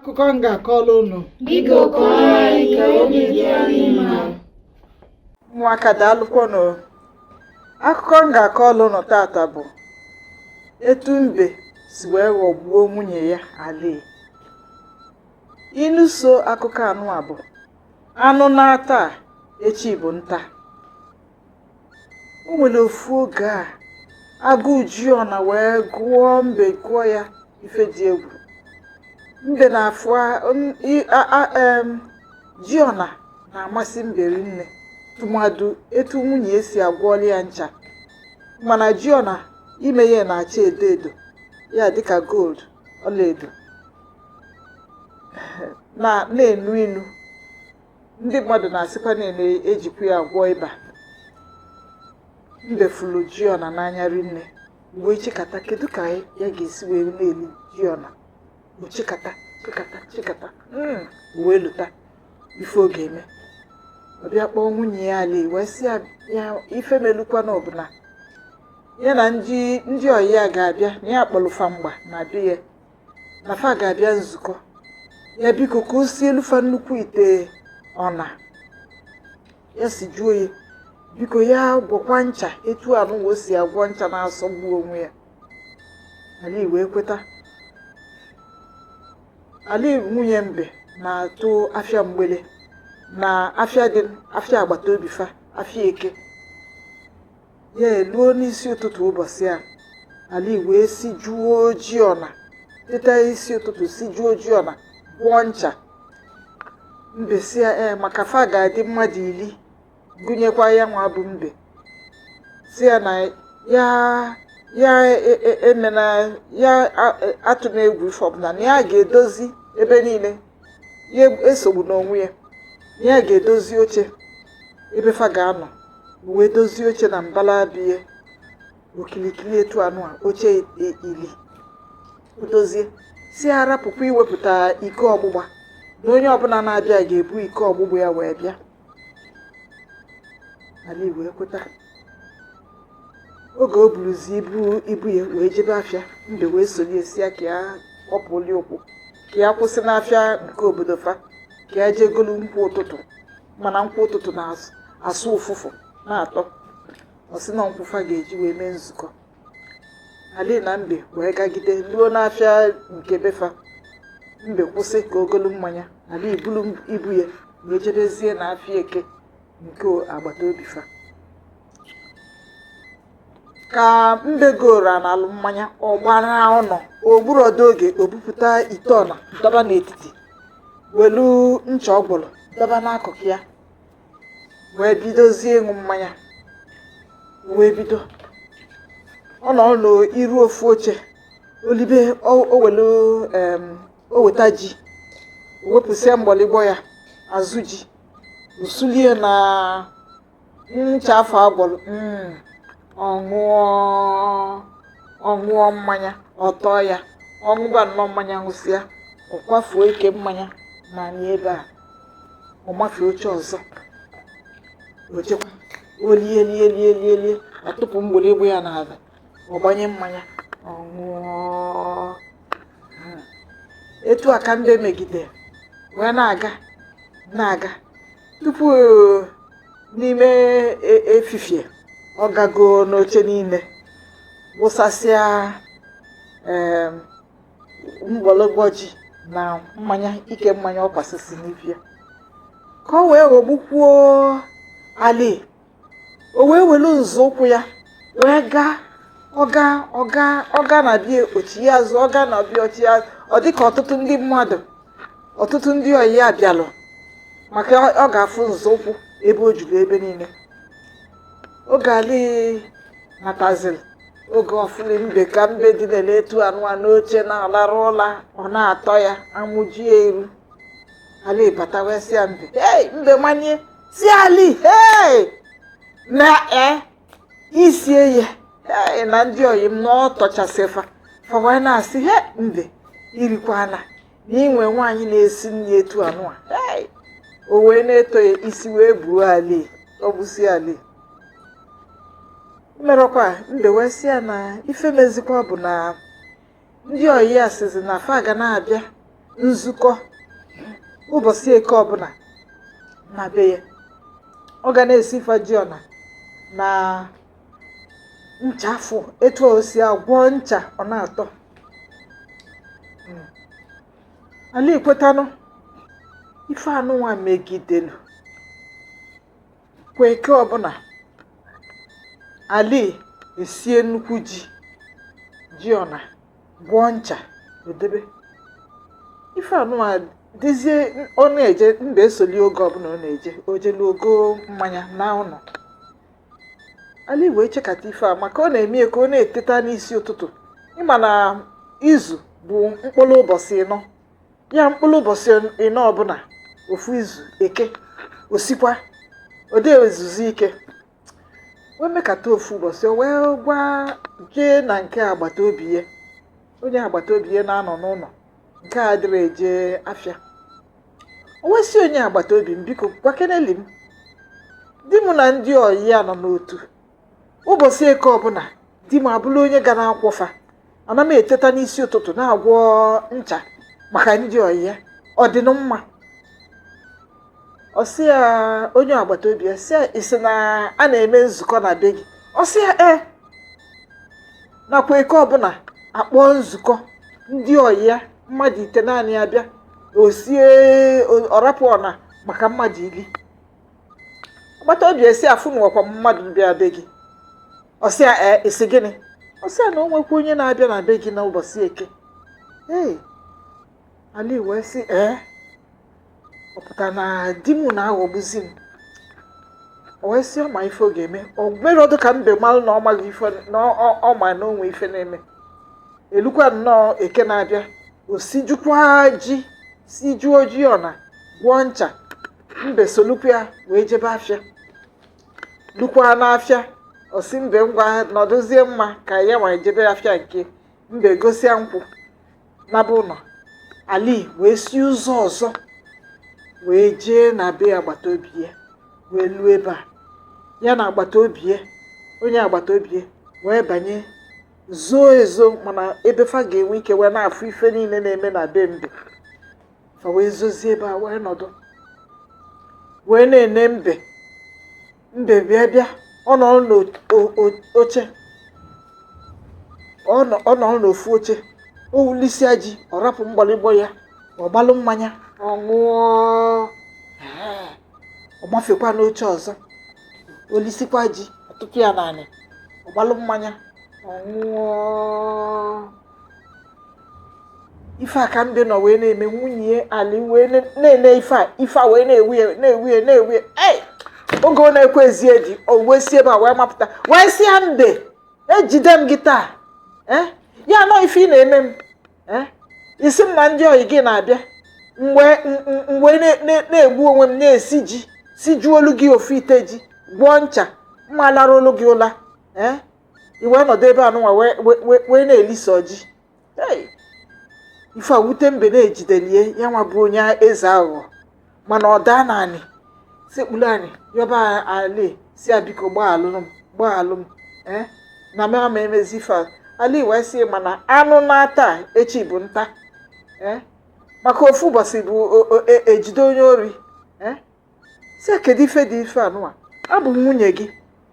akụkọ m ga-akọrọ unu Biko kọọrọ anyị ka obi dị anyị mma. ụmụaka daalụkwanụ akụkọ m ga-akọrọ unu tata bụ etu mbe si wee ghọgbuo nwunye ya ali ilu so akụkọ anụ a bụ anụ naa taa, echi bụ nta o nwere ofu oge a agụụ ji ọna wee gụọ mbe gụọ ya ife dị egwu mbe na-afụ a- n- i- a- a- em, ji ọna na-amasị mbe rinne tụmadụ etu nwunye ya si agwọọlụ ya ncha mana ji ọna ime ya na-acha edo edo ya dịka gold ọlaedo na na-enu inu ndị mmadụ na-asịkwa na a na-ejikwa ya agwọ ịba mbe fụlụ ji ọna n'anya rinne wee chekata kedu ka ya ga-esi wee na-eli ji ọna o chekata chekata chekata hmm, wee lota ife ọ ga-eme ọ bịa kpọọ nwunye ya ali wee sị ya ife melukwanụ ọ bụ na ya na ndị ọyị ya ga-abịa na ya kpọlụ fa mgba na be ya na fa ga-abịa nzukọ ya biko ka o sielu fa nnukwu ite ọna ya sijuo ya biko ya gwọkwa ncha etu anụ o si agwọ ncha na-asọgbu onwe ya ali wee kweta ali nwunye mbe na-atụ afịa mgbele na afịa dị afịa agbata obi fa afịa eke ya eluo n'isi ụtụtụ ụbọsị a ali wee sijuo ji ọna teta isi ụtụtụ sijuo ji ọna gwọọ ncha mbe sị ya ee maka fa ga-adị mmadụ ili gụnyekwa ya nwa bụ mbe sị ya na ya ya e, e, emena ya atụna egwu ife ọbụla na ya ga-edozi ebe niile ya esogbuna onwe ya na ya ga-edozi oche ebe fa ga-anọ wee dozie oche na mbala bie okilikili etu anụ a oche i- ili dozie sị ya rapụkwa iwepụta iko ọgbụgba na onye ọbụla na-abịa ga-ebu iko ọgbụgba ya wee bịa ali wee kweta oge o buruzi ibu ibu ya wee jebe afịa mbe wee sonye sị ya ka ya kpọpụli ụkwụ ka ya kwụsị n'afịa nke obodo fa ka ya jee golu nkwụ ụtụtụ mana nkwụ ụtụtụ na-asụ ụfụfụ na-atọ ọ sị na nkwụ fa ga-eji wee mee nzukọ Ali na Mbe wee gagide luo n'afịa nke befa Mbe kwụsị ka o golu mmanya Ali bulu ibu ya wee jebezie na afịa eke nke agbata obi fa ka Mbe goro na alụ mmanya ọ gbara ụnọ o gburọdụ oge o bupụta ite ọna dọba n'etiti welu ncha ọ gwọlụ dọba n'akụkụ ya wee bidozie ịṅụ mmanya wee bido ọ nọrọ n'iru ofu oche o libe o welu o weta ji o wepụsịa mgbọlịgbọ ya azụ ji o sulie na ncha afụ a gwọrọ mm, ọ ṅụọ ọ ṅụọ mmanya ọ tọọ ya ọ ṅụba nnọọ mmanya ṅụsịa ọ kwafuo ike mmanya na ebe a ọ mafee oche ọzọ o chekwa o lie lie lie lie lie ọ tụpụ mgbọrịgbọ ya n'ala ọ gbanye mmanya ọ ṅụọ etu a ka Mbe megide wee na-aga na-aga tupu eh, n'ime e- efifie ọ gago n'oche niile wụsasịa em, mgbọlịgbọ ji na mmanya ike mmanya ọ kwasịsị n'ibe a ka o wee ghọgbukwuo Ali o wee welu nzọụkwụ ya wee gaa ọ gaa ọ gaa ọ ga na-abịa o chie azụ ọ ga na-abịa o chie ọ dịka ọtụtụ ndị mmadụ ọtụtụ ndị ọyị ya bịalụ maka ọ ga-afụ nzọụkwụ ebe o juru ebe niile oge Ali nataziri oge ọ fụlụ Mbe ka Mbe dinere etu anụ a n'oche na-alarụ ụla ọ na-atọ ya amụ jie iru Ali bata wee sị ya Mbe hei Mbe manie sị Ali hei na e i sie ya hei na ndị ọyị m na ọ tọchasị fa fa wee na-asị he Mbe i rikwana na inwe nwaanyị na-esi nri etu anụ a hey! o wee na-eto ya isi wee buo Ali o busi Ali merọkwa Mbe wee sị ya na ife mezikwa bụ na ndị ọyị ya sịzi na fa ga na-abịa nzukọ ụbọchị eke ọbụla na be ya ọ ga na-esi ife ji ọna na ncha afụ etu o si agwọ ncha ọ na-atọ Ali kwetanụ ife anụnwa megidelu kwa eke ọbụla Ali esie nnukwu ji ji ọna gwọọ ncha o debe ife anụnwa dịzie ọ na-eje Mbe esoli oge ọbụla ọ na-eje o jelu o goo mmanya na ụnọ ali wee chekata ife a maka ọ na-eme ya ka ọ na-eteta n'isi ụtụtụ ị ma na izu bụ mkpụlụ ụbọsị ịnọ ya mkpụlụ ụbọsị ịnọ ọbụna ofu izu eke o sikwa ọ dị ezuzi ike wee mekata ofu ụbọsị o wee gwa jee na nke agbata obi ya onye agbata obi ya na-anọ n'ụnọ nke adịrọ eje afịa o wee sị onye agbata obi m biko gwakeneli m di m na ndị ọyị ya nọ n'otu ụbọsị eke ọbụna di m abụrụ onye ga na-akwọ fa ana m eteta n'isi ụtụtụ na-agwọ ncha maka ndị ọyị ya ọ dịnụ mma ọ sị ya onye agbata obi ya sị ya ị sị na a na-eme nzukọ na be gị ọ sị ya ee nakwa eke ọbụna a kpọọ nzukọ ndị ọyị ya mmadụ itenaanị abịa o sie o- ọ rapụ ọna maka mmadụ ili agbata obi ya sị afụnukwa mmadụ bịa be gị ọ sị ya ee ị sị gịnị ọ sị ya na o nwekwa onye na-abịa na be gị n'ụbọsị eke ee ali wee sị ee ọ pụta na di m na-aghọgbuzi m o wee sị ọ ma ife ọ ga-eme o merọdụ ka mbe malụ na ọ maghị ife na ọ ma na o nwe ife na-eme elukwa nnọọ eke na-abịa o sijukwa ji sijuo ji ọna gwọọ ncha mbe solukwu ya wee jebe afịa lukwa n'afịa ọ sị mbe ngwa nọdụzie mma ka ya nwa jebe afịa nke mbe gosia nkwụ naba ụnọ ali wee si ụzọ ọzọ wee jee na be agbata obi ya wee luo ebe a ya na agbata obi ya onye agbata obi ya wee banye zoo ezo mana ebe fa ga-enwe ike wee na-afụ ife niine na-eme na be mbe fa wee zozie ebe a wee nọdụ wee na-ene mbe mbe bịa bịa ọ nọrọ n'oche ọ nọrọ n'ofu oche o lisịa ji ọ rapụ mgbọlịgbọ ya ọ gbalụ mmanya ọ ṅụọ ọ gbafekwa n'oche ọzọ o lisikwa ji ọ tụpụ ya n'anị ọ gbalụ mmanya ọ ṅụọ ife a ka mbe nọ wee na-eme nwunye ya ali wee na-ene ife a ife a wee na-ewu ya na-ewu ya na-ewu ya ei oge ọ na-ekwezi edi o wee si ebe a wee mapụta wee sị ya mbe ejide m gị taa eh ya nọ ife ị na-eme m eh ị sị m na ndị ọyị gị na-abịa m wee na-egbu onwe m na-esi ji sijuolu gị ofu ite ji gwọọ ncha m ma larụolu gị ụla ee i wee nọdụ ebe anụnwa wee na-elisi ji ife a wute mbe na ejidelie ya nwa bụ onye eze aghụghọ mana ọ daa n'anị sekpulu anị yọba ali si ya biko gbaghalụ m gbaghalụ m ee na m ama emezi ife ali wee sị mana anụ naa taa echi bụ nta ee maka ofu ụbọsị bụ ejide onye ori ee si ya kedu ife dị ife anụnwa abụ m nwunye gị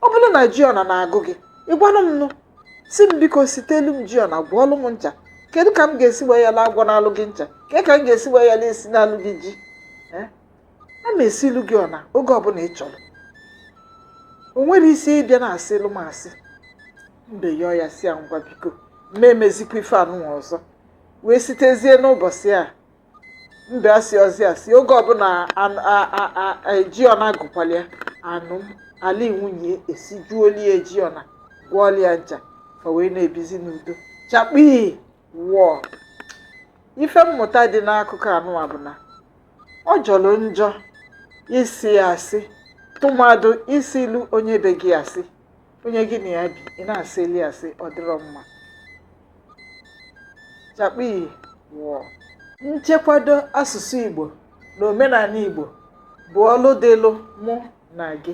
ọ bụrụ na ji ọna na-agụ gị ị gwanụ m nụ si m biko sitelu m ji ọna gwọọlụ m ncha kedu ka m ga-esi wee yala agwọnalụ gị ncha ke ka m ga-esi wee yala esinalụ gị ji Eh? a ma esilu gị ọna oge ọbụla ị chọrọ o nwere isi ịbịa na-asịlụ m asị mbe yọọ ya si ya ngwa biko ma emezikwa ife anụnwa ọzọ wee sitezie n'ụbọsị a mbe asịrọzị asị oge ọbụla an- a- a- a- a- ji ọna gụkwalụ ya anụm ali nwunye esijuolu ya ji ọna gwọọlụ ya ncha fa wee na-ebizi n'udo chakpii wọọ ife mmụta dị n'akụkọ anụnwa bụ na ọ jọrọ njọ ịsị asị tụmadụ ịsịlụ onye be gị asị onye gị na ya bi ị na-asịlụ ya asị ọ dịrọ mma chakpii wọọ nchekwado asụsụ igbo na omenaanị igbo bụ ọlụ dịlụ mụ na gị